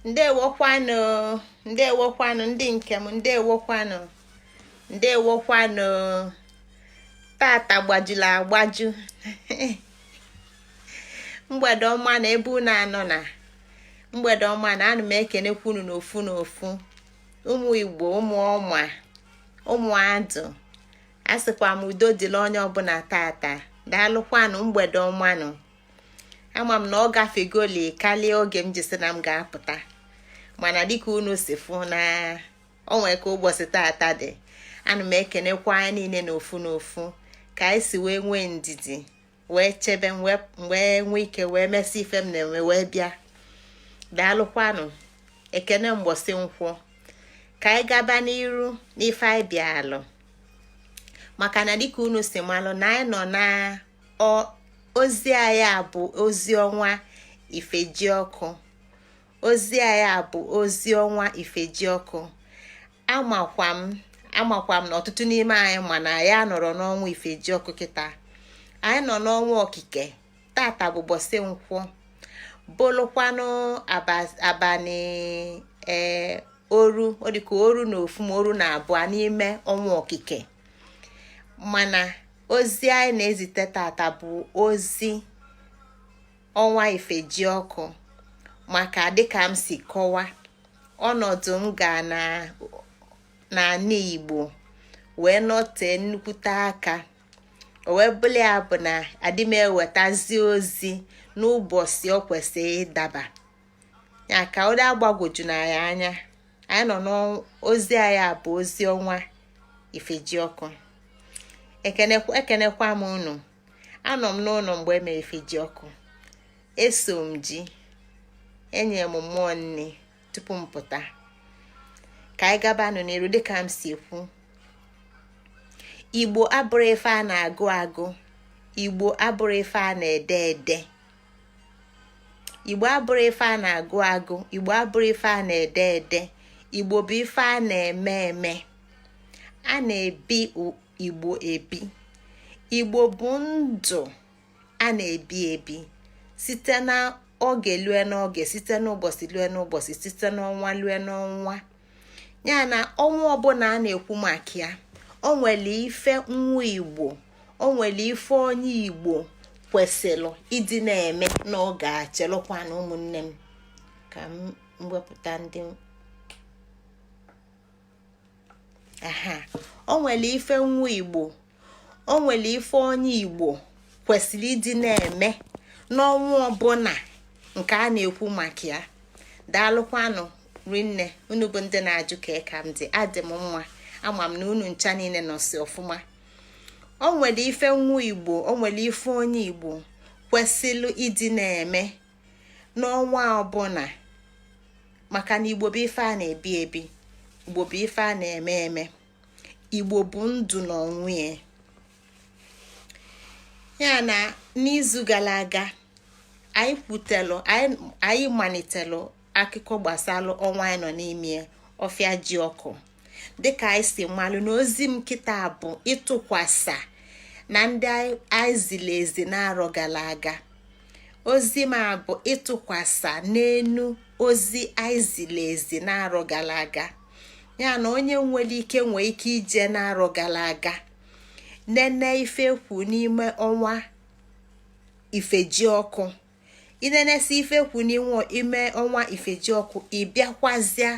ndewokwanụ ndewokwanụ ndị nke m ndewokwanụ ndewokwanụ tata gbajula agbaju mgbede ọma na ebe unu anọ na mgbede ọma na ana m ekenekwa unu n'ofu n'ofu ụmụ igbo ụmụ ọma ụmụ adụ asịkwa m udo dịla onye ọbụla tata daalụkwanụ mgbede ọmanụ ama m na ọ gafegoli karịa oge m ji sị na m ga-apụta mana dịka unu si fụ na o nwee ka ụbọchị tata dị ana m ekenekwa anyị niile n'ofu n'ofu ka anyị si wee nwee ndidi wee chebe wee nwee ike wee mesị ife m na-eme wee bịa daalụkwanụ ekene mbọsị nkwọ ka anyị gaba n'iru n'ife anyị bịalụ maka na dịka unu si malụ na anyị nọ na ọ ozi anyị a bụ ozi ọnwa ifejiọkụ ozi anyị a bụ ozi ọnwa ifejiọkụ amakwa m amakwa m na ọtụtụ n'ime anyị ma na anyị anọrọ n'ọnwa ifejiọkụ kịta anyị nọ n'ọnwa okike tata bụ ụbọsị nkwọ bụlụkwanụ abalị ee eh, oru ọ dịka oru na ofu ma oru na abụọ n'ime ọnwa okike mana ozi anyị na-ezite tata bụ ozi ọnwa ifejiọkụ maka dịka m si kọwa ọnọdụ m ga n'anị igbo wee nọtee nnukwute aka o wee bụla ya bụ na adị m ewetazi ozi n'ụbọsị ọ kwesịrị ịdaba ya ka ọ dị agbagwoju anyị anya anyị nọ n'ozi anyị a bụ ozi ọnwa ifejiọkụ ekenekwa m unu anọ m n'ụlọ mgbe e mere ifejiọkụ eso m jee nye mmụọ nni tupu m pụta ka anyị gabanụ n'iru dịka m si ekwu igbo abụrọ ife a na-agụ agụ igbo abụrọ ife a na-ede ede igbo abụrọ ife a na-agụ agụ igbo abụrọ ife a na-ede ede igbo bụ ife a na-eme eme a na-ebi igbo ebi igbo bụ ndụ a na-ebi ebi site na oge lue n'oge site n'ụbọsị lue n'ụbọsị site n'ọnwa lue n'ọnwa nya na ọnwa ọbụna a na-ekwu maka ya o nwelụ ife nwa igbo o nwelụ ife onye igbo kwesịrị ịdị na-eme n'oge a chelụkwanụ ụmụnne m ka m wepụta ndị aha o nwelụ ife nwa igbo o nwere ife onye igbo kwesịrị ịdị na-eme n'ọnwa ọbụla nke a na-ekwu maka ya daalụkwanụ rinne unu bụ ndị na-ajụ ka ka m dị adị m mma ama m na unu ncha niile nọsi ọfụma o nwere ife nwa igbo o nwere ife onye igbo kwesịrị ịdị na-eme n'ọnwa ọbụla maka na igbo bụ ife a na-ebi ebi igbo bụ ife a na-eme eme igbo bụ ndụ n'onwe ya ya na n'izu gara aga anyị kwutelụ anyị malitelụ akụkọ gbasara ọnwa anyị nọ n'ime ọfịa ji ọkụ dịka anyị si malụ na ozi m kịta bụ ịtụkwasa na ndị anyị ziri ezi n'arọ gara aga ozi m a bụ ịtụkwasa n'enu ozi anyị ziri ezi n'arọ gara aga ya na onye nwere ike nwee ike ije n'arọ gara aga nene ife e kwu n'ime ọnwa ifejiọkụ i nenesi ife e kwu n'ime ọnwa ifejiọkụ ị bịakwazịa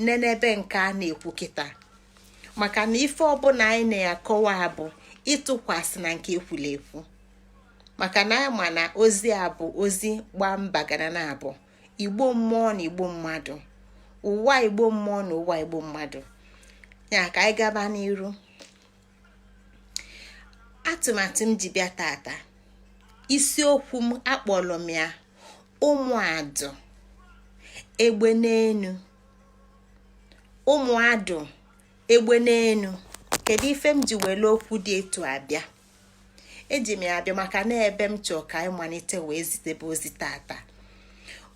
nenebe nke a na-ekwu kịta maka na ife ọbụla anyị na-akọwa bụ ịtụkwasị na nke e kwulu ekwu maka na a ma na ozi a bụ ozi gbaa mba gara na abọ igbo mmụọ na igbo mmadụ ụwa igbo mmụọ na ụwa igbo mmadụ ya ka anyị gaba n'iru atụmatụ m ji bịa tata isiokwu m akpọrọ m ya ụmụadụ egbe n'enu ụmụadụ egbe n'enu kedu ife m ji were okwu dị etu a bịa eji m ya abịa maka na ebe m chọọ ka anyị malite wee zitebe ozi tata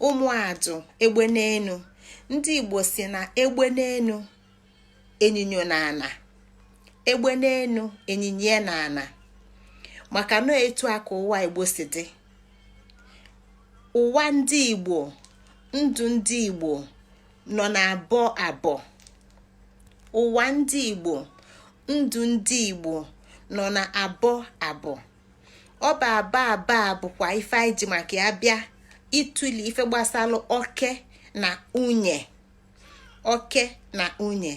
ụmụadụ egbe n'enu ndị igbo si na egbe n'enu enyinyo na ana egbe n'enu enyinye na ana maka na etu a ka ụwa igbo si dị ụwa ndị igbo ndụ ndị igbo nọ na abọ abọ ụwa ndị igbo ndụ ndị igbo nọ na abọ abọ ọ bụ abọ abọ a bụkwa ife anyị ji maka ya bịa ịtụle ife gbasara oke na nwunye oke na nwunye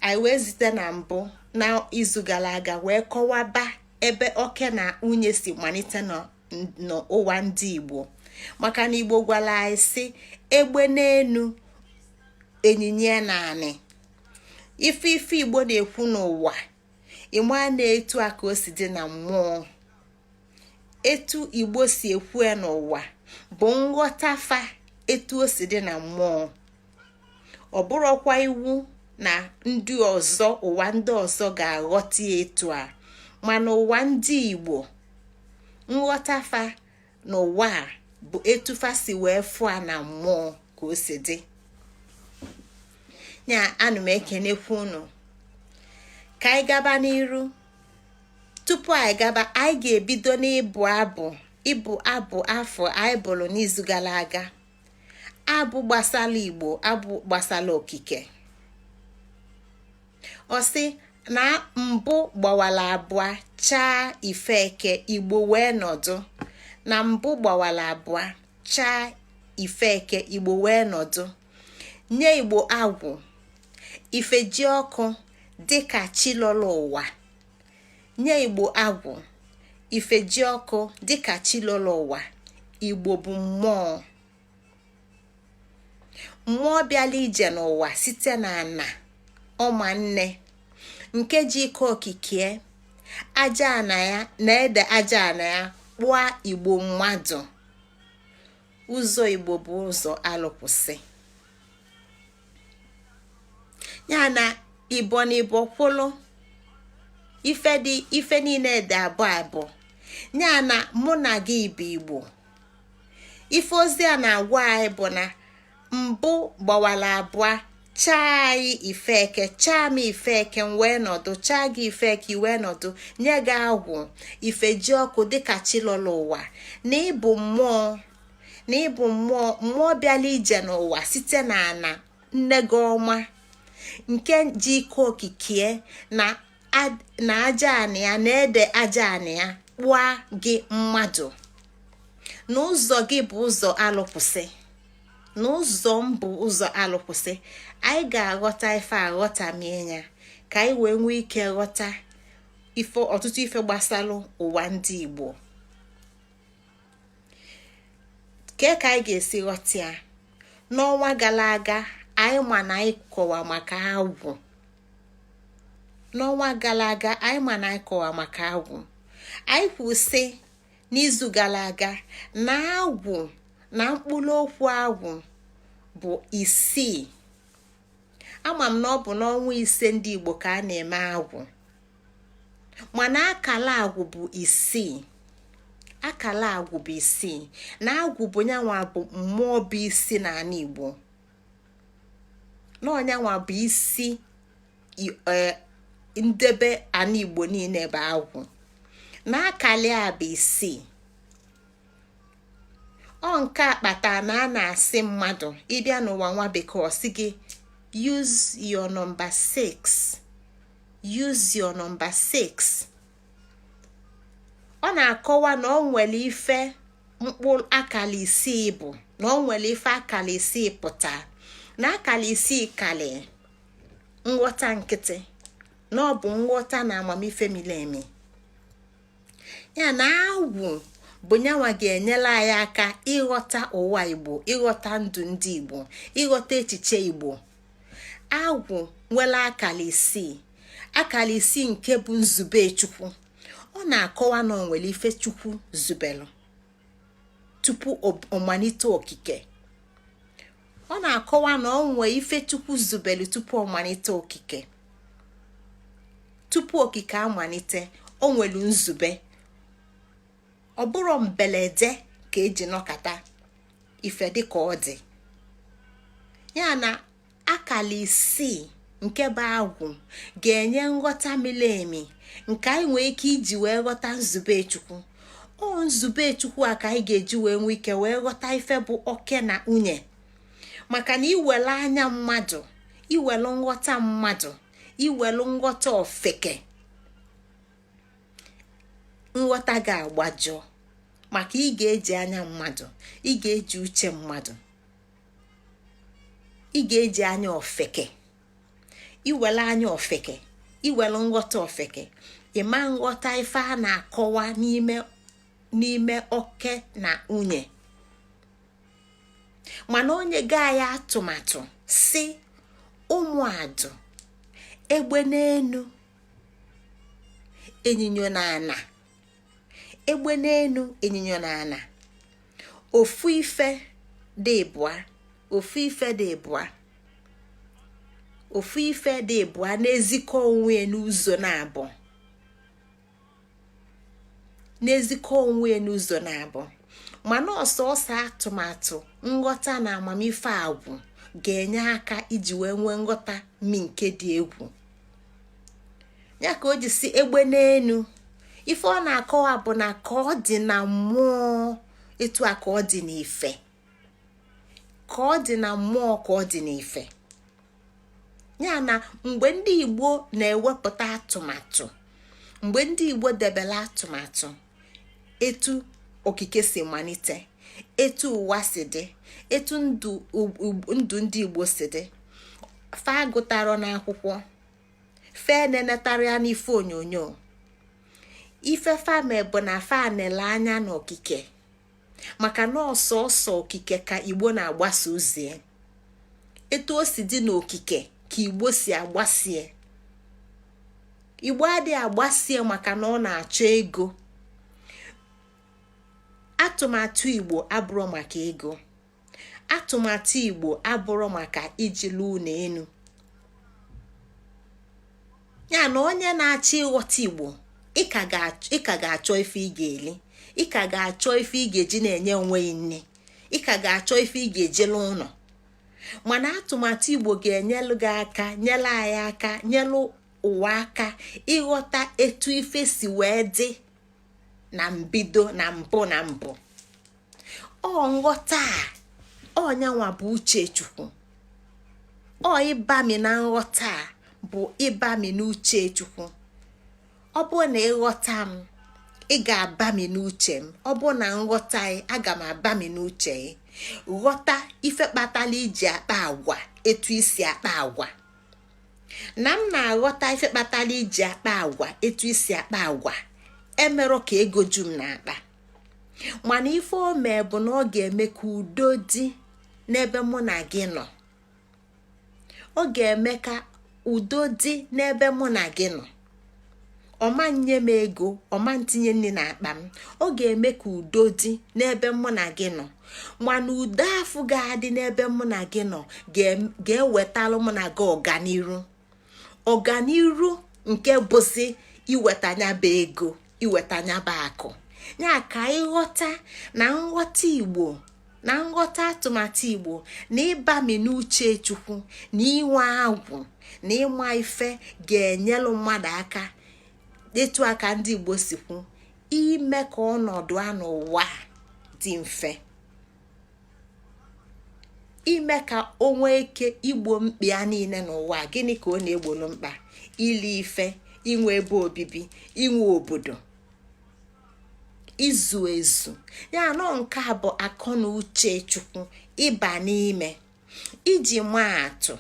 anyị wee zite na mbụ n'izu gara aga wee kọwaba ebe oke na nwunye si malite na n'ụwa ndị igbo maka na igbo gwara anyị sị egbe n'enu enyinye na ana ife ife igbo na-ekwu n'ụwa ị ma na etu a ka o si dị na mmụọ etu igbo si ekwu ya n'ụwa bụ nghọta fa etu o si dị na mmụọ ọ bụrọkwa iwu na ndị ọzọ ụwa ndị ọzọ ga-aghọta etu a mana ụwa ndị igbo nghọta fa na ụwa a bụ etu fa si wee fụ ya na mmụọ ka o si dị ya ana m ekenekwu unu ka anyị gaba n'iru tupu anyị gaba anyị ga-ebido n'ịbụ abụ ịbụ abụ afụ anyị bụlụ n'izu gala aga abụ gbasala igbo abụ gbasala okike ọ sị na mbụ gbawala abụa chaa ife eke igbo wee nọdụ na mbụ gbawala abụa chaa ife eke igbo wee nọdụ nye igbo agwụ ife ji ọkụ dịka chi lọla ụwa nye igbo agwụ ife ji ọkụ dịka chi lọla ụwa igbo bụ mmụọ mmụọ bịala ije n'ụwa site na ana ọma nne nke ji ike okike aja ana ya na ede aja ana ya kpụa igbo mmadụ ụzọ igbo bụ ụzọ alụkwụsị ya na ibo na ibo kwụlụ ife dị ife niine dị abụọ abụọ ya na mụ na gị bụ igbo ife ozi a na-agwa anyị bụ na mbụ gbawala abụa chaa anyị ife eke chaa m ife eke m wee nọdụ chaa gị ife eke i wee nọdụ nye gị agwụ ife ji ọkụ dịka chi lọla ụwa na ị bụ mmụọ na ị bụ mmụọ mmụọ bịala ije n'ụwa site na ana nne gị ọma nke ji ike okike na aja anị ya na ede aja anị ya kpụa gị mmadụ na ụzọ gị bụ ụzọ alụkwụsị na ụzọ m bụ ụzọ alụkwụsị anyị ga-aghọta ife a ghọtamie ya ka anyị wee nwee ike ghọta ọtụtụ ife gbasalụ ụwa ndị Igbo ke ka anyị ga-esi ghọta ya n'ọnwa gala aga anyị ma na anyị kọwa maka agwụ n'ọnwa gala aga anyị ma na anyị kọwa maka agwụ anyị kwusi n'izu gala aga na agwụ na mkpụrụ okwu agwụ bụ isii ama m na ọ bụ n'ọnwa ise ndị Igbo ka a na-eme agwụ mana akala agwụ bụ isii akala agwụ bụ isii na agwụ bụ nya nwa bụ mmụọ bụ isi n'anị igbo na ọ nya nwa bụ isi ndebe anị igbo niine bụ agwụ na akala ya bụ isii ọ nke a kpata na a na-asị mmadụ ị bịa n'ụwa nwa bekee ọ sị gị use your number 6 use your number 6 ọ na-akọwa na ọ nwere ife mkpụrụ akala isii bụ na ọ nwere ife akala isii pụta na akala isii kali nghọta nkịtị na ọ bụ nghọta na amamife mili emi ya na agwụ bụ nya nwa ga-enyere anyị aka ịghọta ụwa igbo ịghọta ndụ ndị igbo ịghọta echiche igbo agwụ nwere akala isii akala isii nke bụ nzube chukwu ọ na-akọwa na o nwere ife chukwu zubelu tupu ọ malite okike ọ na-akọwa na ọ nwee ife chukwu zubelu tupu ọ malite okike tupu okike amalite o nwelu nzube ọ bụrọ mbelede ka e ji nọkata ife dị ka ọ dị ya na akala isii nke bụ agwụ ga-enye nghọta mili emi nke anyị nwee ike iji wee ghọta nzube chukwu ọ nzube chukwu a ka anyị ga-eji wee nwee ike wee ghọta ife bụ oke na nwunye maka na i welu anya mmadụ i welu nghọta mmadụ i welu nghọta ofeke nghọta ga-agbajọ maka ị ga-eji anya mmadụ ị ga-eji uche mmadụ ị ga-eji anya ofeke i welu anya ofeke i welu nghọta ofeke ị ma nghọta ife a na-akọwa n'ime n'ime oke na nwunye mana onye gaa ya atụmatụ si ụmụadụ egbe n'enu enyinyo n'ana egbe n'enu enyinyo n'ana ofu ife dị ịbụa ofu ife dị ịbụa ofu ife dị ịbụa na-ezikọ onwe n'ụzọ naabọ na-ezikọ onwe n'ụzọ naabọ mana ọ sọọsọ atụmatụ nghọta na amamife agwụ ga-enye aka iji wee nwee nghọta mi nke dị egwu ya ka o ji sị egbe n'enu ife ọ na-akọwa bụ na ka ọ dị na mmụọ etu a ka ọ dị n'ife ka ọ dị na mmụọ ka ọ dị n'ife ya na mgbe ndị igbo na-ewepụta atụmatụ mgbe ndị igbo debere atụmatụ etu okike si malite etu ụwa si dị etu ndụ ndị igbo si dị fa agụtarọ n'akwụkwọ fe nenetara ya n'ife onyonyo ife fa me bụ na fa nele anya n'okike maka na ọ sọsọ okike ka igbo na-agbasa ozi etu o si dị n'okike ka igbo si agbasie igbo adịghị agbasie maka na ọ na-achọ ego atụmatụ igbo abụrọ maka ego atụmatụ igbo abụrọ maka iji lụọ ụnọ enu ya na onye na-achọ ịghọta igbo ị ka ga-achọ ife ị ga-eli ị ka ga-achọ ife ị ga-eji na-enye onwe gị nni ị ka ga-achọ ife ị ga-eji lụọ ụnọ mana atụmatụ igbo ga-enyelụ gị aka nyelụ anyị aka nyelụ ụwa aka ịghọta etu ife si wee dị na mbido na mbụ na mbụ ọ nghọta a ọ nyanwa bụ uche chukwu ọ ịbami na nghọta a bụ ịbami n'uche chukwu ọ bụ na ị ghọta m ị ga-abami n'uche m ọ bụ na m ghọta ị aga m abami n'uche ị ghọta ife kpatalụ i ji akpa agwa etu i si akpa agwa na m na-aghọta ife kpatalụ i ji akpa agwa etu i si akpa agwa emerọ ka ego ju m n'akpa mana ife o mee bụ na ọ ga-eme ka udo dị n'ebe mụ na gị nọ ọ ga-eme ka udo dị n'ebe mụ na gị nọ ọ ma nye m ego ọ ma tinye nni n'akpa m ọ ga-eme ka udo dị n'ebe mụ na gị nọ mana udo afụ ga-adị n'ebe mụ na gị nọ ga-ewetalụ mụ na gị ọganiru ọganiru nke bụzi iweta nya bụ ego iweta nya bụ akụ ya ka ị ghọta na nghọta igbo na nghọta atụmatụ igbo na ịbami n'uche chukwu na inwe agwụ na ịma ife ga-enyelụ mmadụ aka etu a ka ndị igbo si kwu ime ka ọnọdụ a n'ụwa dị mfe ime ka o nwee ike igbo mkpa ya niile n'ụwa gịnị ka ọ na-egbolu mkpa ili ife inwe ebe obibi inwe obodo izu ezu ya anọ nke a bụ akọ na uche chukwu ịba n'ime iji maa atụ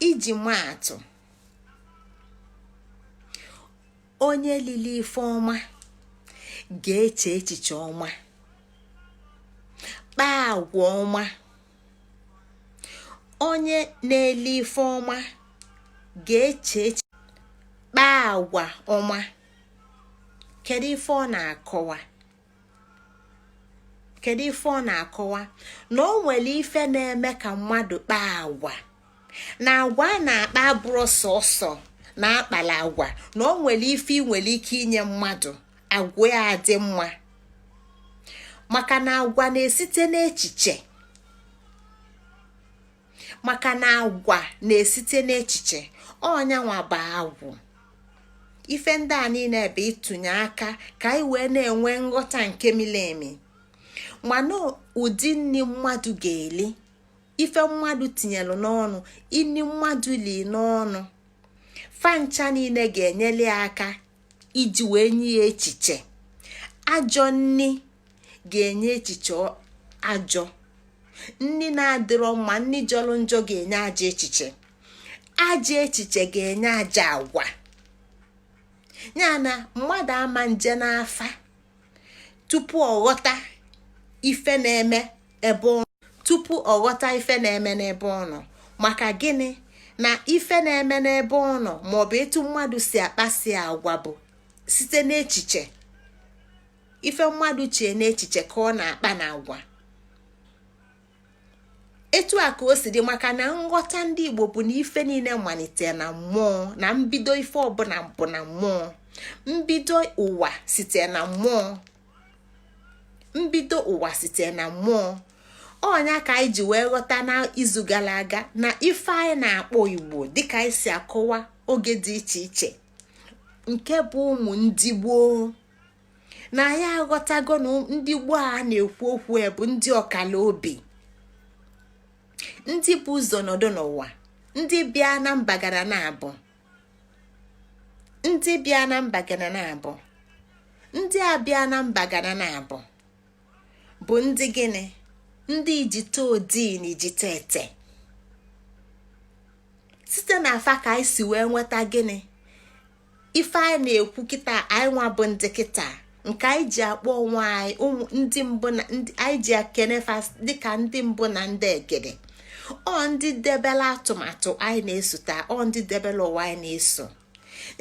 iji maa atụ onye lili ife ọma ga-eche echiche ọma kpaa agwa ọma onye na-eli ife ọma ga-eche echiche kpaa agwa ọma kedu ife ọ na-akọwa kedu ife ọ na-akọwa na o nwere ife na-eme ka mmadụ kpaa agwa na agwa a na-akpa abụrọ sọsọ na a kpala agwa na o nwere ife ị nwere ike inye mmadụ agwa ya adị mma maka na agwa na-esite n'echiche maka na agwa na-esite n'echiche ọ nya nwa bụ agwụ ife ndị a niine bụ ịtụnye aka ka anyị wee na-enwe nghọta nke mili emi mana ụdị nni mmadụ ga-eli ife mmadụ tinyelu n'ọnụ nni mmadụ li n'ọnụ fa ncha niine ga-enyere ya aka iji wee nye ya echiche ajọ nni ga-enye echiche ajọ nni na-adịrọ mma nni jọlụ njọ ga-enye ajọ echiche ajọ echiche ga-enye ajọ agwa ya na mmadụ ama nje n'afa tupu ọ ghọta ife na-eme ebe ọ tupu ọ ghọta ife na-eme n'ebe ọ nọ maka gịnị na ife na-eme n'ebe ọ nọ maọbụ etu mmadụ si akpasi agwa bụ site n'echiche ife mmadụ chee n'echiche ka ọ na-akpa na agwa etu a ka o si dị maka na nghọta ndị igbo bụ na ife niile malite na mmụọ na mbido ife ọbụna bụ na mmụọ mbido ụwa site na mmụọ mbido ụwa site na mmụọ ọ nya ka anyị ji wee ghọta n'izu gala aga na ife anyị na-akpọ igbo dịka anyị si akọwa oge dị iche iche nke bụ ụmụ ndị gboo na anyị aghọtago na ndị gboo a na-ekwu okwu ya bụ ndị ọkala obi ndị bu ụzọ nọdụ n'ụwa ndị bịa na mba gara na abụ ndị bịa na mba gara na abụ ndị a bịa na mba gara na abụ bụ ndị gịnị ndị ijite odii na ijite ete site na afa ka anyị si wee nweta gịnị ife anyị na-ekwu kịta anyị nwa bụ ndị kịta nke anyị ji akpọ onwe anyị ụmụ ndị mbụ na anyị ji ekene fa dịka ndị mbụ na ndị egede ọ ndị debela atụmatụ anyị na-esota ọ ndị debela ụwa anyị na-eso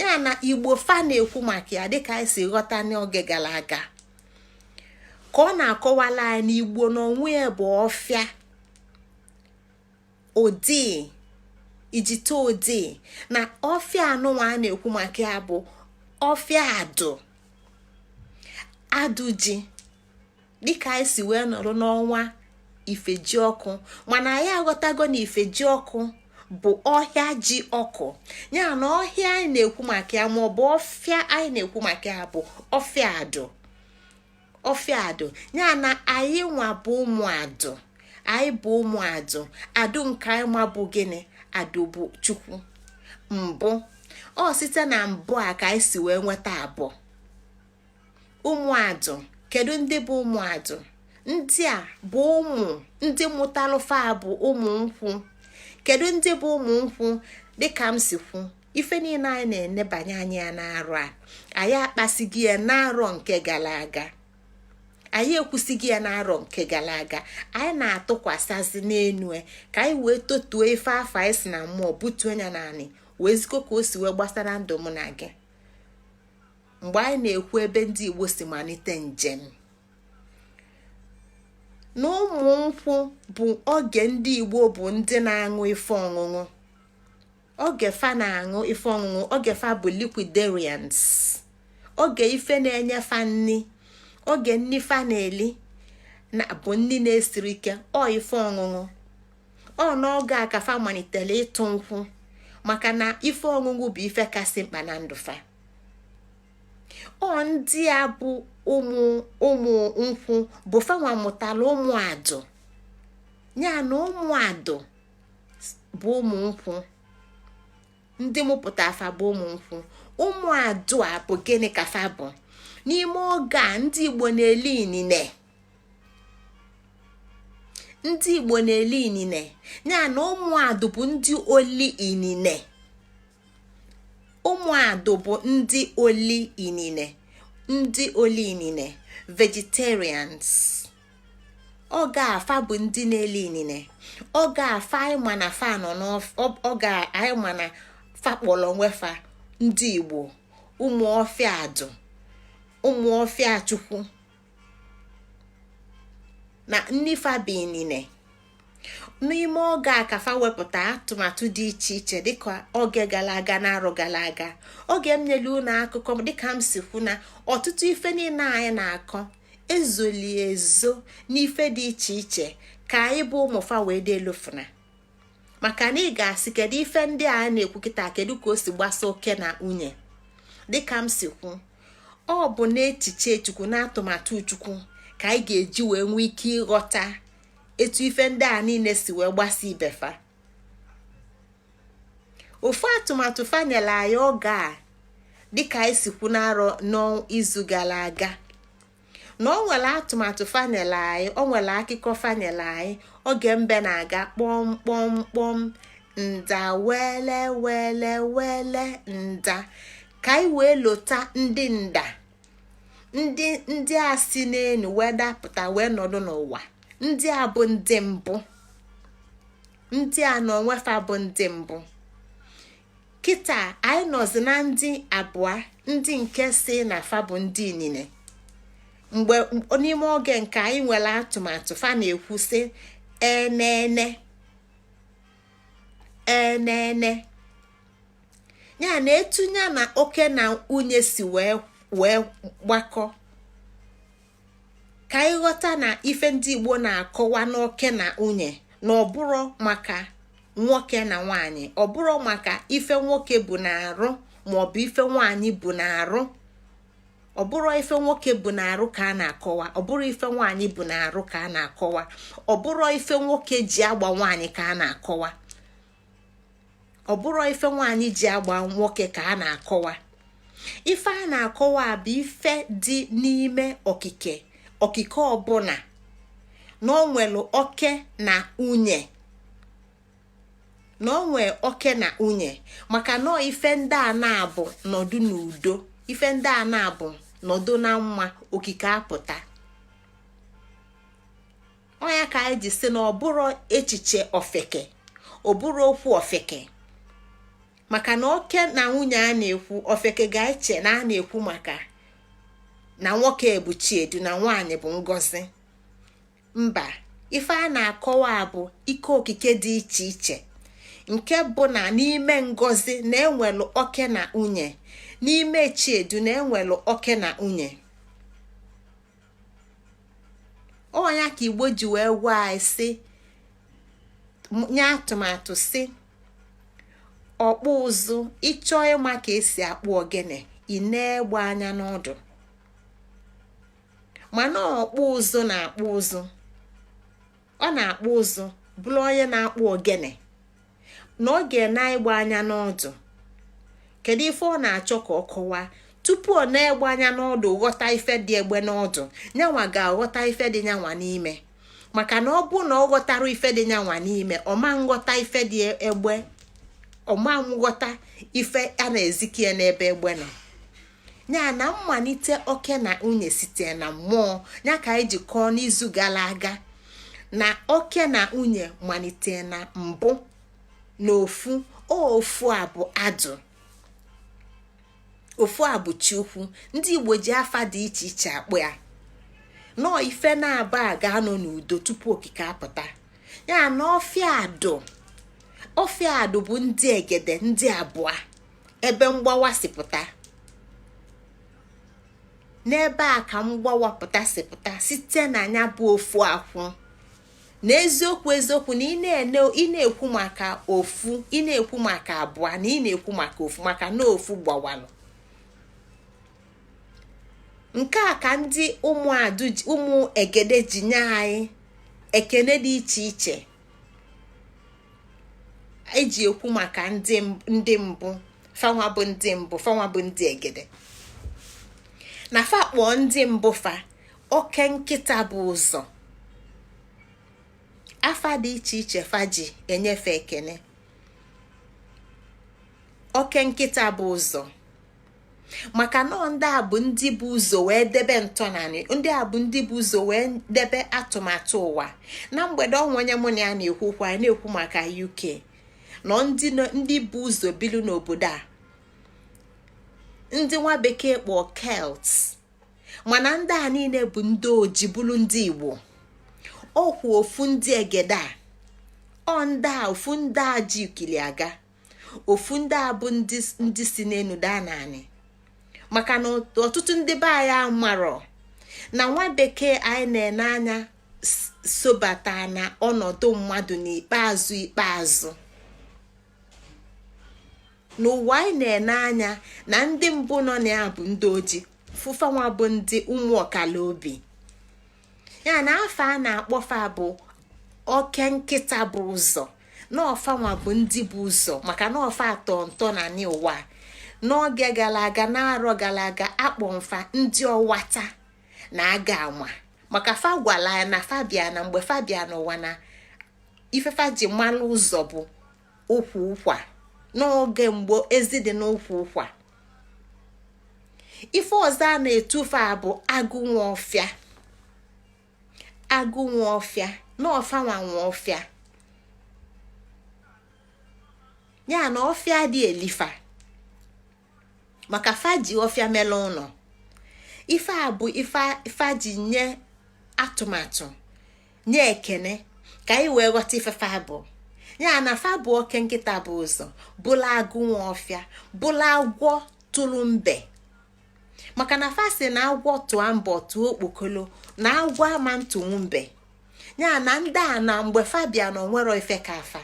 ya na igbo fa na-ekwu maka ya dịka anyị si ghọta n'oge gara aga ka ọ na-akọwala anyị na igbo n'onwe ya bụ ọfịa odii ijite odii na ọfịa anụnwa a na-ekwu maka ya bụ ọfịa adụ adụ ji dịka anyị si wee nọrọ n'ọnwa ifejiọkụ mana anyị aghọtago na ifejiọkụ bụ ọhịa ji ọkụ ya na ọhịa anyị na-ekwu maka ya maọbụ ọfịa anyị na-ekwu maka ya bụ ọfịa adụ ọfịa adụ ya na anyị nwa bụ ụmụ adụ anyị bụ ụmụ adụ adụ nke anyị ma bụ gịnị adụ bụ chukwu mbụ ọ site na mbụ a ka anyị si wee nweta abụọ ụmụ adụ kedu ndị bụ ụmụ adụ ndị a bụ ụmụ ndị mụtalụ fa bụ ụmụ nkwụ kedu ndị bụ ụmụ nkwụ dịka m si kwu ife niile anyị na-enebanye anya ya n'arọ a anyị akpasighị ya n'arọ nke gara aga anyị ekwusighị ya n'arọ nke gara aga anyị na-atụkwasịzi n'enu e ka anyị wee totuo ife afụ anyị si na mmụọ butuo ya n'anị wee zikọ ka o si wee gbasara ndụ mụ na gị mgbe anyị na-ekwu ebe ndị Igbo si malite njem na ụmụ nkwụ bụ oge ndị Igbo bụ ndị na-aṅụ ife ọṅụṅụ oge fa na-aṅụ ife ọṅụṅụ oge fa bụ liquidarians oge ife na-enye fa nni oge nni fa na-eli na-abụ nni na-esirọ ike ọ ife ọṅụṅụ ọ n'oge a ka fa malitere ịtụ nkwụ maka na ife ọṅụṅụ bụ ife kasị mkpa na ndụ fa ọ ndị a bụ ụmụ ụmụ nkwụ bụ fanwa mụtara ụmụ adụ ya na ụmụ adụ bụ ụmụ nkwụ ndị mụpụta fa bụ ụmụ nkwụ ụmụ adụ a bụ gịnị ka fa bụ n'ime oge a ndị igbo na-eli inine ndị igbo na-eli inine ya na ụmụ adụ bụ ndị oli inine ụmụ adụ bụ ndị oli inine ndị oli inine vegetarians oge a fa bụ ndị na-eli inine oge a fa anyị ma na fa nọ n'oge a anyị ma na fa kpọrọ onwe fa ndị igbo ụmụ ọfịa adụ ụmụ ọfịa chukwu na nni fa bụ inine n'ime oge a ka fa wepụta atụmatụ dị iche iche dịka oge gara aga na arọ gara aga oge m nyere unu akụkọ dịka m si kwu na ọtụtụ ife niile anyị na-akọ ezoli ezo n'ife dị iche iche ka anyị bụ ụmụ fa wee dị elofuna maka na ị ga-asị kedu ife ndị a na-ekwu kịta kedu ka o si gbasa oke na nwunye dịka m si kwu ọ bụ n'echiche chukwu na atụmatụ chukwu ka anyị ga-eji wee nwee ike ịghọta etu ife ndị a niile si wee gbasa ibe fa ofu atụmatụ fa nyelu anyị oge a dịka anyị si kwu n'arọ n'izu gara aga na o nwere atụmatụ fa nyelu anyị o nwere akụkọ fa nyelu anyị oge mbe na-aga kpọm kpọm kpọm nda wele wele wele nda ka anyị wee lota ndị nda ndị a si n'elu wee dapụta wee nọdụ n'ụwa ndị a bụ ndị mbụ ndị a n'onwe fa bụ ndị mbụ kịta anyị nọzi na ndị abụọ ndị nke sị na fa bụ ndị inine mgbe n'ime oge nke anyị nwere atụmatụ fa na-ekwu sị enene enene ya na etunye na oke na nwunye si wee gbakọ ka ị ghọta na ife ndị igbo na-akọwa n'oke na nwunye na ọ bụrọ maka nwoke na nwanyị ọ bụrọ maka ife nwoke bu n'arụ maọbụ ife nwanyị bu n'arụ ọ bụrọ ife nwoke bu n'arụ ka a na-akọwa ọ bụrọ ife nwanyị bu n'arụ ka a na-akọwa ọ bụrọ ife nwoke ji agba nwanyị ka a na-akọwa ọ bụrọ ife nwaanyị ji agba nwoke ka a na-akọwa ife a na-akọwa bụ ife dị n'ime okike okike ọbụna na o nwere oke na nwunye na o nwee oke na nwunye maka na ife ndị a naabọ nọdụ n'udo ife ndị a naabọ nọdụ na mma okike apụta ọ nya ka anyị ji sị na ọ bụrọ echiche ofeke ọ bụrọ okwu ofeke maka na oke na nwunye a na-ekwu ofeke ga-eche na a na-ekwu maka na nwoke bụ chiedu na nwaanyị bụ ngozi mba ife a na-akọwa bụ ike okike dị iche iche nke bụ na n'ime ngozi na e nwelu oke na nwunye n'ime chiedu na e nwelu oke na nwunye ọ nya ka igbo ji wee gwa anyị sị nye atụmatụ sị ọkpụ ụzụ ị chọọ ịma ka e si akpụ ogene i nee egbe anya n'ọdụ mana ọkpụ ụzụ na-akpụ ụzụ ọ na-akpụ ụzụ bụrụ onye na-akpụ ogene na ọ ga-ene egbe anya n'ọdụ kedu ife ọ na-achọ ka ọ kọwaa tupu o nee egbe anya n'ọdụ ghọta ife dị egbe n'ọdụ nyanwa ga-aghọta ife dị nyanwa n'ime maka na ọ bụ na ọ ghọtarọ ife dị nyanwa n'ime ọ ma nghọta ife dị egbe ọ ma nghọta ife a na-ezikie n'ebe egbe nọ ya na mmalite oke na nwunye site na mmụọ ya ka anyị ji kọọ n'izu gara aga na oke na nwunye malite na mbụ na ofu ofu a bụ adụ ofu a bụ chi ukwu ndị igbo ji afa dị iche iche akpọ ya nọọ ife na-aba a ga-anọ n'udo tupu okike apụta ya na ọfịa adụ ọfịa adụ bụ ndị egede ndị abụọ ebe mgbawa si pụta n'ebe a ka mgbawa pụta si pụta site na nya bụ ofu akwụ na eziokwu eziokwu na ị na-ekwu maka ofu ị na-ekwu maka abụọ na ị na-ekwu maka ofu maka na ofu gbawalụ nke a ka ndị ụmụ egede ji nye anyị ekene dị iche iche eji ekwu maka ndị mbụ fanwa bụ ndị mbụ fanwa bụ ndị egede na fa kpọọ ndị mbụ fa oke nkịta bu ụzọ afa dị iche iche fa ji enye fa ekene oke nkịta bu ụzọ maka na ọ ndị a bụ ndị bu ụzọ wee debe ntọnanị ndị a bụ ndị bu ụzọ wee debe atụmatụ ụwa na mgbede o nwe onye mụ na ya na-ekwu okwu anyị na-ekwu maka UK na ọ ndị bu ụzọ bilu n'obodo a ndị nwa bekee kpọ Celt mana ndị a niile bụ ndị oji bụrụ ndị Igbo ọkwa ofu ndị egede a ọ ndị a ofu ndị a ji ikili aga ofu ndị a bụ ndị si n'enu daa n'anị maka na ọtụtụ ndị be anyị amarọ na nwa bekee anyị na-ene anya sobata na ọnọdụ mmadụ n'ikpeazụ ikpeazụ n'ụwa anyị na-ene anya na ndị mbụ nọ na ya bụ ndị oji fụ fanwa bụ ndị ụmụ ọkala obi ya na afa a na-akpọ fa bụ oke nkịta bu ụzọ na ọ fanwa bụ ndị bu ụzọ maka na ọ fa tọ ntọnanị ụwa n'oge gara aga n'arọ gara aga akpọ m fa ndị ọwata na aga anwa maka fa gwala ya na fa bịa na mgbe fa bịa n'ụwa na ife fa ji malụ ụzọ bụ ukwu ụkwa n'oge mgbe ezi dị n'ukwu ụkwa ife ọzọ a na-etu fa bụ agụ nwe ọfịa agụ nwe ọfịa na ọ fanwa nwe ọfịa ya na ọfịa dịịlị fa maka fa ji ọfịa mele ụlọ ife a bụ ife fa ji nye atụmatụ nye ekene ka anyị wee ghọta ife fa bụ ya na fa bụ oke nkịta bu ụzọ bụla agụ nwe ọfịa bụla agwọ tụlụ mbe maka na fa sị na agwọ tụọ mbe ọ tụọ okpokolo na agwọ ama ntụnwu mbe ya na ndị a na mgbe fa bịa na o nwerọ ife ka fa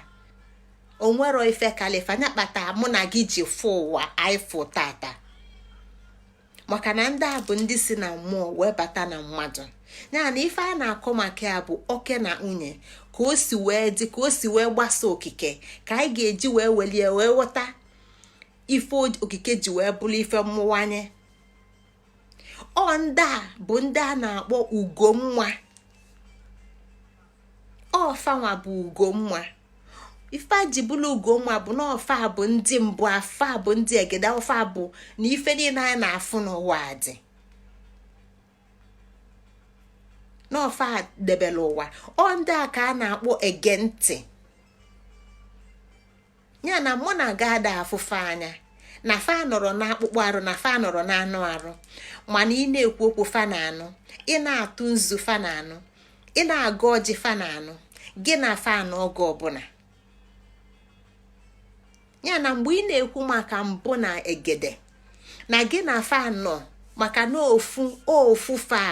o nwerọ ife kalị fa nya kpata mụ na gị ji fụ ụwa anyị fụ tata maka na ndị a bụ ndị si na mmụọ wee bata na mmadụ ya na ife a na-akọ maka ya bụ oke na nwunye ka o si wee dị ka o si wee gbasa okike ka anyị ga-eji wee welie wee ghọta ife okike ji wee bụrụ ife mmụwanye ọ ndị a bụ ndị a na-akpọ ugomma ọ fanwa bụ ugomma ife ji bụrụ ugomma bụ na ọ fa bụ ndị mbụ ọ fa bụ ndị egede ọ fa bụ na ife niile anyị na-afụ n'ụwa dị na ọ fa debere ụwa ọ ndị a ka a na-akpọ ege ntị ya na mụ na gị ada afụ fa anya na fa anọrọ n'akpụkpọ arụ na fa anọrọ n'anụ arụ mana ị na-ekwu okwu fa na-anụ ị na-atụ nzu fa na-anụ ị na-agọ ọjị fa na-anụ gị na fa nọ oge ọbụla ya na mgbe ị na-ekwu maka mbụ na egede na gị na fa nọ maka na ofu ofu fa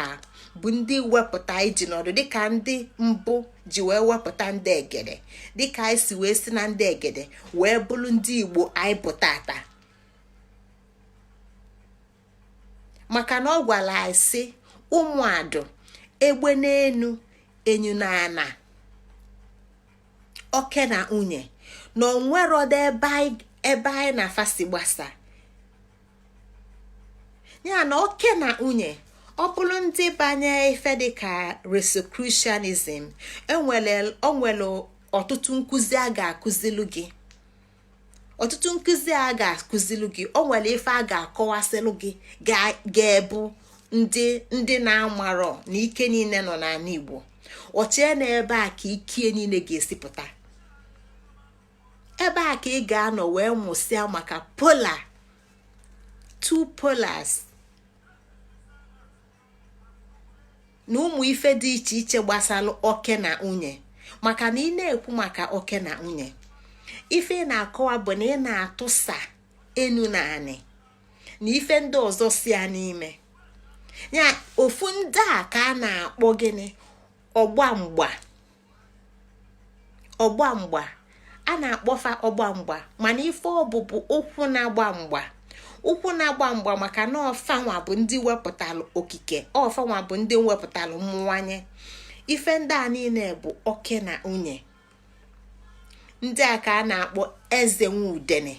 bụ ndị wepụta iji nọdụ dịka ndị mbụ ji wee wepụta ndị egede dịka anyị si wee si na ndị egede wee bụrụ ndị Igbo anyị bụ tata maka na ọ gwara anyị sị ụmụ adụ egbe n'enu enyu na ana oke na nwunye na o nwerọdo ebe anyị na fa si gbasa ya na oke na nwunye ọ bụrụ ndị banye ife dịka Rosicrucianism o nwere e ọtụtụ nkụzi a ga-akụzilu gị ọtụtụ nkụzi a ga-akụzilu gị o nwere ife a ga-akọwasịlụ gị ga-ebu ndị na-amarọ na ike niile nọ n'anị Igbo o chee na ebe a ka ike niile ga-esi pụta ebe a ka ị ga-anọ wee mụsịa maka pola two polars na ụmụ ife dị iche iche gbasalụ oke na nwunye maka na ị na-ekwu maka oke na nwunye ife ị na-akọwa bụ na ị na-atụsa enu na anị na ife ndị ọzọ si ya n'ime ya ofu ndị a ka a na-akpọ gịnị ọgba mgba ọgba mgba a na-akpọfa ọgba mgba mana ife ọ bụ bụ ụkwụ na-agba mgba ụkwụ na-agba mgba maka na ọ fanwa bụ ndị wepụtalụ okike ọ fanwa bụ ndị wepụtalụ mmụwanye ife ndị a niile bụ oke na nwunye ndị a ka a na-akpọ eze nwudene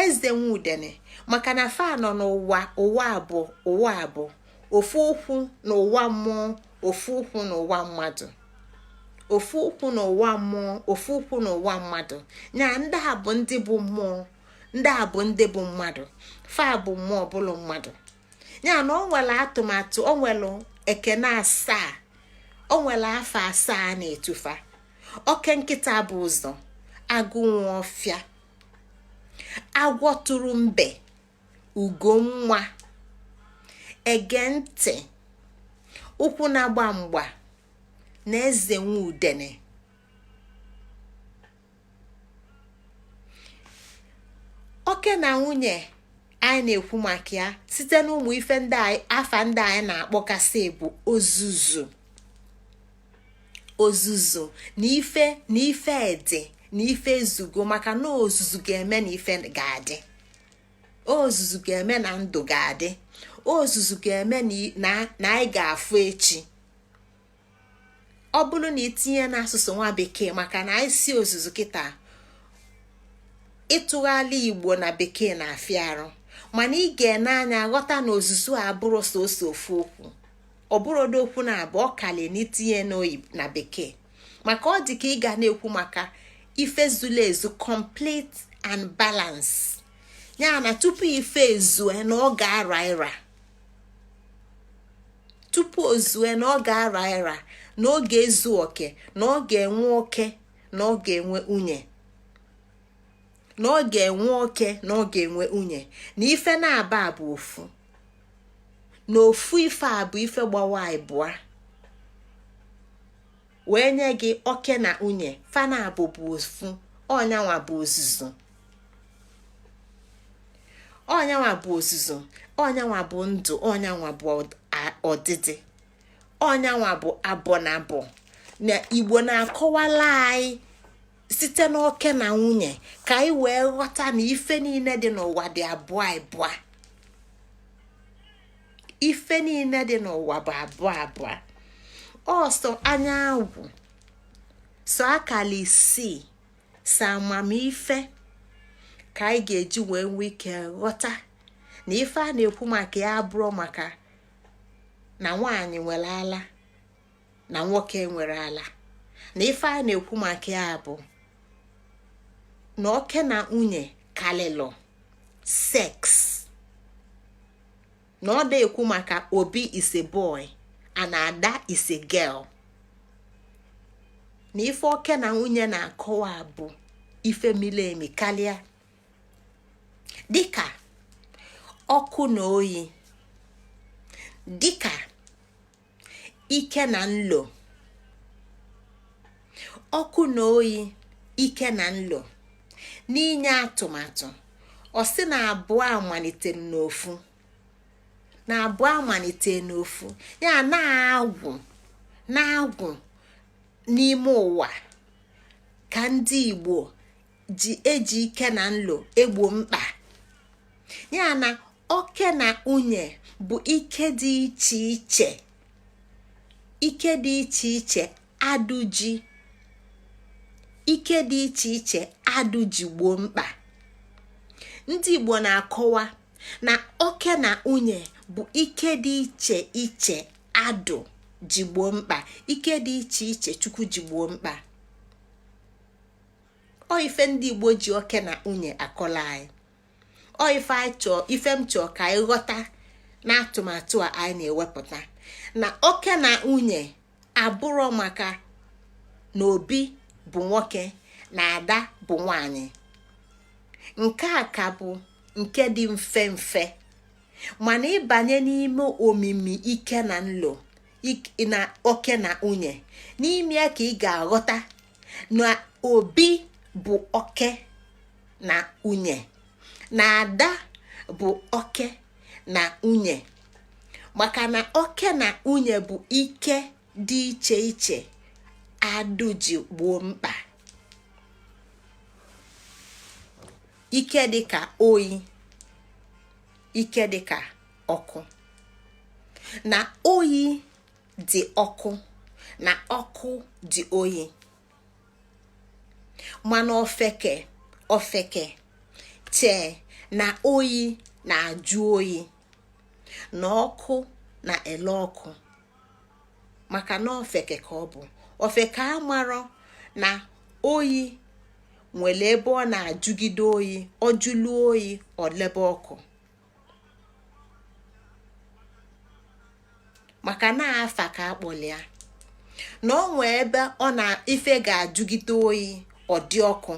eze nwudene maka na fa nọ n'ụwa ụwa abụọ ụwa abụọ ofu ụkwụ n'ụwa mmụọ ofu ụkwụ n'ụwa mmadụ ofu ụkwụ n'ụwa mmụọ ofu ụkwụ n'ụwa mmadụ na ndị a bụ ndị bụ mmụọ ndị a bụ ndị bụ mmadụ fa bụ mmụọ bụlụ mmadụ ya na o nwere atụmatụ o nwere ekene asaa o nwere afa asaa na-etu fa oke nkịta bu ụzọ agụ nwa ọfịa agwọ tụrụ mbe ugo nwa ege ntị ụkwụ na-agba mgba na eze nwa udene oke na nwunye anyị na-ekwu maka ya site n'ụmụ ife ndị afa ndị anyị na-akpọkasị bụ ozuzu ozuzu na ife dị na ife ezugo maka na ozuzu ga-eme na ife ga-adị ozuzu ga-eme na ndụ ga-adị ozuzu ga-eme na anyị ga-afụ echi ọ bụrụ na i tinye n'asụsụ nwa bekee maka na anyị sị ozuzu kịta ịtụgharị igbo na bekee na-afịa arụ mana ị ga-ene anya ghọta na ozuzu abụrọ sọsọ ofu okwu ọ bụrọdị okwu naabọ ọ kalị na i tinye n'oyi na bekee maka ọ dị ka ị ga na-ekwu maka ife zuru ezu complete and balance ya na tupu ife ezue na ọ ga-ara ịra tupu o zue na ọ ga-ara ịra na ọ ga-ezu oke na ọ ga-enwe oke na ọ ga-enwe nwunye na ọ ga-enwe oke na ọ ga-enwe nwunye na ife naabọ a bụ ofu na ofu ife a bụ ife gbawa ịbụa wee nye gị oke na nwunye fa naabọ bụ ofu ọ nyanwa bụ ozuzu ọ nyanwa bụ ozuzu ọ nyanwa bụ ndụ ọ nyanwa bụ ọdịdị ọ nyanwa bụ abọ na abọ na igbo na-akọwala anyị site n'oke na nwunye ka anyị wee ghọta na ife niile dị n'ụwa dị abụọ abụọ ife niile dị n'ụwa bụ abụọ abụọ ọ sọ anyanwụ sọ akala isii sọ amamife ka anyị ga-eji wee nwee ike ghọta na ife a na-ekwu maka ya abụrọ maka na nwaanyị nwere ala na nwoke nwere ala na ife a na-ekwu maka ya bụ na oke na nwunye kalịlụ sex na ọ da-ekwu maka obi is a boy and ada is a girl na ife oke na nwunye na-akọwa bụ ife mili emi kalịa dịka ọkụ na oyi dịka ike na nlo ọkụ na oyi ike na nlo n'inye atụmatụ ọ sị na abụọ amalite n'ofu na abụọ amalite n'ofu ya na-agwụ na-agwụ n'ime ụwa ka ndị Igbo ji eji ike na nlo egbo mkpa ya na oke na nwunye bụ ike dị iche iche ike dị iche iche adụ ji ike dị iche iche adụ ji gboo mkpa ndị Igbo na-akọwa na oke na nwunye bụ ike dị iche iche adụ ji gboo mkpa ike dị iche iche chukwu ji gboo mkpa ọ ife ndị igbo ji oke na nwunye akọla anyị ọ ife anyị chọọ ife m chọọ ka anyị ghọta na atụmatụ a anyị na-ewepụta na oke na nwunye abụrọ maka na obi bụ nwoke na ada bụ nwanyị nke a ka bụ nke dị mfe mfe mana ị banye n'ime omimi ike na nlo na oke na nwunye n'ime ya ka ị ga-aghọta na obi bụ oke na nwunye na ada bụ oke na nwunye maka na oke na nwunye bụ ike dị iche iche adụ ji gboo mkpa ike dịka oyi ike dịka ọkụ na oyi dị ọkụ na ọkụ dị oyi mana ofeke ofeke chee na oyi na-ajụ oyi na ọkụ na-ele ọkụ maka na ofeke ka ọ bụ ofeke amarọ na oyi nwelu ebe ọ na-ajụgide oyi ọ jụlụ oyi ọ lebe ọkụ maka na afa ka a kpọli ya na ọ nwee ebe ọ na ife ga-ajụgide oyi ọ dị ọkụ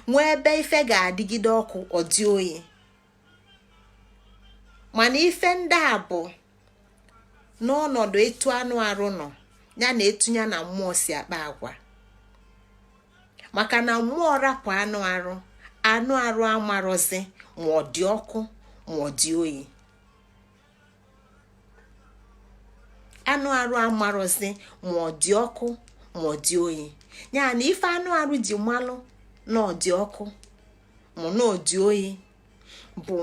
nwee ebe ife ga-adịgide ọkụ ọ dị oyi mana ife ndị a bụ n'ọnọdụ etu anụ arụ nọ ya na etu ya na mmụọ si akpa agwa maka na mmụọ rapụ anụ arụ anụ arụ amarọzi ma ọ dị ọkụ ma ọ dị oyi anụ arụ amarọzi ma ọ dị ọkụ ma ọ dị oyi ya na ife anụ arụ ji malụ na ọ dị ọkụ ma na ọ dị oyi bụ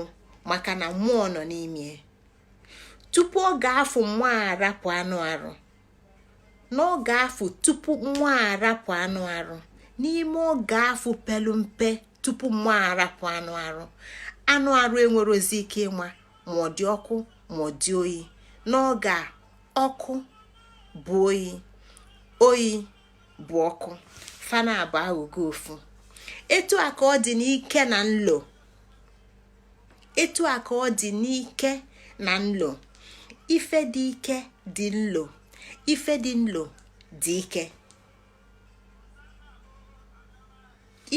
maka na mmụọ nọ n'ime tupu oge afụ mmụọ arapụ anụ arụ n'oge afụ tupu mmụọ arapụ anụ arụ n'ime oge afụ pelu mpe tupu mmụọ arapụ anụ arụ anụ arụ enwerọzi ike ịma ma ọ dị ọkụ ma ọ dị oyi n'oge a ọkụ bụ oyi oyi bụ ọkụ fa n'abụọ aghọgo ofu etu a ka ọ dị n'ike na nlo etu a ka ọ dị n'ike na nlo ife dị ike dị nlo ife dị nlo dị ike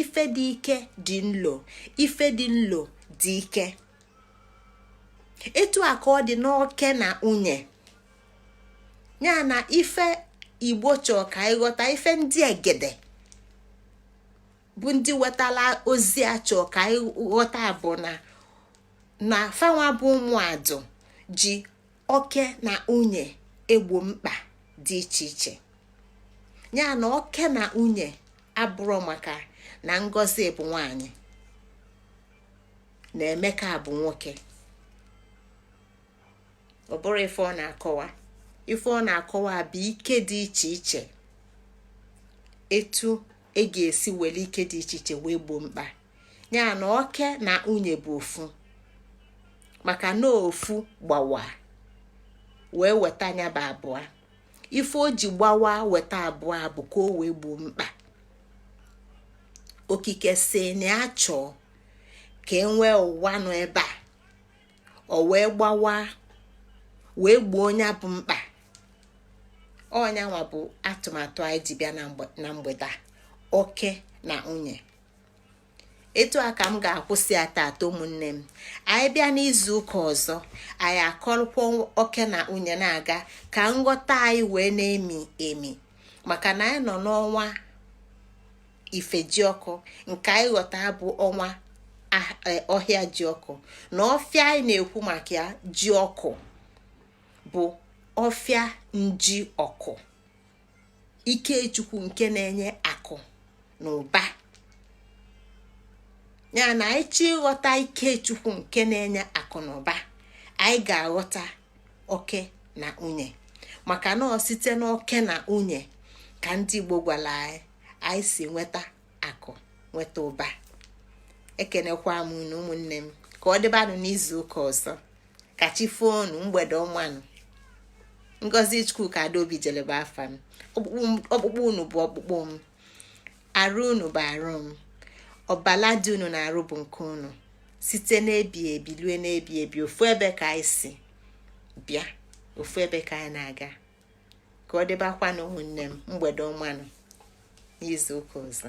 ife dị ike dị nlo ife dị nlo dị ike etu a ka ọ dị n'oke na nwunye ya na ife igbo chọọ ka ị ghọta ife ndị egede bụ ndị wetala ozi a chọọ ka ị ghọta bụ na na fanwa bụ ụmụadụ ji oke na nwunye egbo mkpa dị iche iche ya na oke na nwunye abụrọ maka na ngozi bụ nwanyị na emeka bụ nwoke ọ bụrọ ife ọ na-akọwa ife ọ na-akọwa bụ ike dị iche iche etu e ga-esi were ike dị iche iche wee gboo mkpa ya na oke na nwunye bụ ofu maka na ofu gbawa wee weta nya bụ abụọ ife o ji gbawa weta abụọ bụ ka o wee gboo mkpa okike sị na ya chọọ ka e nwee ụwa nọ ebe a o wee gbawa wee gboo nya bụ mkpa ọ nyanwa bụ atụmatụ anyị ji bịa na mgbede oke na nwunye etu a ka m ga-akwụsị ya tata ụmụnne m anyị bịa n'izu ụka ọzọ anyị akọrọkwa oke na nwunye na-aga ka nghọta anyị wee na-emi emi maka na anyị nọ n'ọnwa ifejiọkụ nke anyị ghọta bụ ọnwa e, ọhịa ji ọkụ na ọfịa anyị na-ekwu maka ya ji ọkụ bụ ọfịa nji ọkụ ike chukwu nke na-enye akụ na ụba ya na anyị chọọ ịghọta ike chukwu nke na-enye akụ na ụba anyị ga-aghọta oke na nwunye maka na ọ site n'oke na nwunye ka ndị Igbo gwara anyị anyị si nweta akụ nweta ụba ekenekwa m unu ụmụnne m ka ọ dịbanụ n'izu ụka ọzọ ka chi foonu mgbede ọma nụ ngozi chukwuka adaobijele bụ afa m ọkpụkpụ unu bụ ọkpụkpụ m arụ unu bụ arụ m ọbala dị unu n'arụ bụ nke unu site n'ebi ebi lue n'ebi ebi ofu ebe ka anyị si bịa ofu ebe ka anyị na-aga ka ọ dịbakwanụ ụmụnne m mgbede ọma nụ n'izu ụka ọzọ